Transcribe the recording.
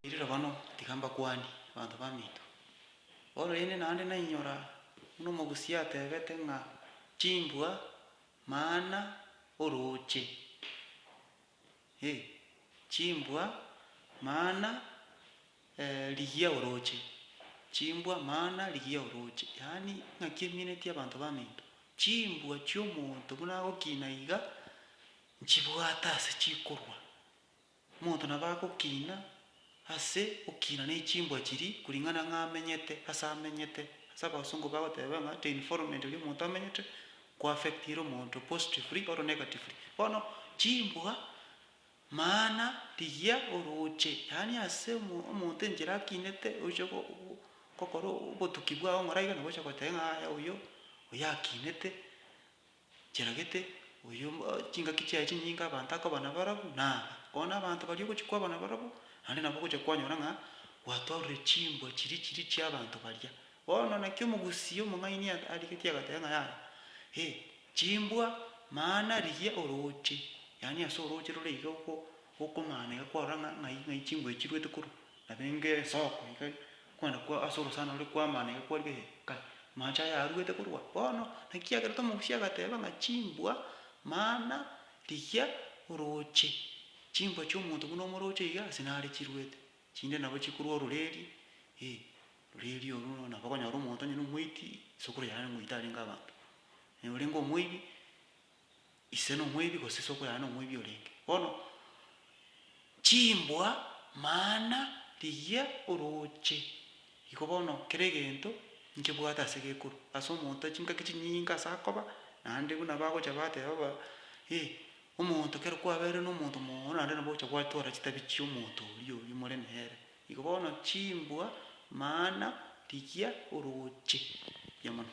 Ririra bono, tiga mbakwanie, abanto baminto, bono rende naende nainyora buna omogusii ateebete ng'a chimbwa maana orooche, ee, chimbwa maana rigiya orooche, chimbwa maana rigiya orooche, yaani ing'aki emineti abanto baminto. Chimbwa chi'omonto buna agokina iga, nchibwate ase chikorwa. Omonto nabo agokiina ase okiina ne chimbwa chiri kuring'ana ng'a amenyete ase amenyete. Ase abasongo bagoteba ng'a the environment eria omonto amenyete ko affectire omonto positively or negatively. Bono chimbwa maana rigia oroche yaani ase omonto enchera akinete oche gokora obotuki bwao ng'ora iga nabo oche goteba ng'a aya oyo oyo akinete. Chiragete, oyio chingaki chiaye chinyinge abanto akoba nabarabwo, na aba, bono abanto baria ogochia kwaba nabarabwo, naende nabo ogochia kwanyora ng'a gwatorire chimbwa chiria chiria chi'abanto baria. Bono naki omogusii omong'aini arigetie agateba ng'a yaya, eh, chimbwa, maana rigia orooche, yaani ase orooche rore iga oko, okomana iga kwarora ng'a ng'ai ng'ai chimbwa echi chiruete korwa, nabo enga ensoko iga. Okogenda kwa ase orosana ore kw'amana iga kwarire he, kai, amache aya aruete korwa bono, naki kiagerete omogusi agateba ng'a chimbwa, mana, rigia orooche chimbwa chi'omonto buna omorooche iga, ase nare chiruete, chinde nabo chikorwa ororeeria, eh, ororeeria orwo nabo okonyora omonto onye nomoiti, esukuru yaye ngoita arenge abanto, oyorenge omoibi. Ise nomoibi gose sokoirana nomoibi orenge. Bono chimbwa maana rigiya orooche. Igo bono kera egento nkebwate ase gekorwa ase omonto chinkaki chinyinge ase akoba naende buna bagocha bateba ba eh omonto kero kwaberire nomonto mooono naende nabo ogocha gwatwara chitabi chi'omonto oria oria more nere. Igo bono chimbwa maana rigiya orooche. Buya mono.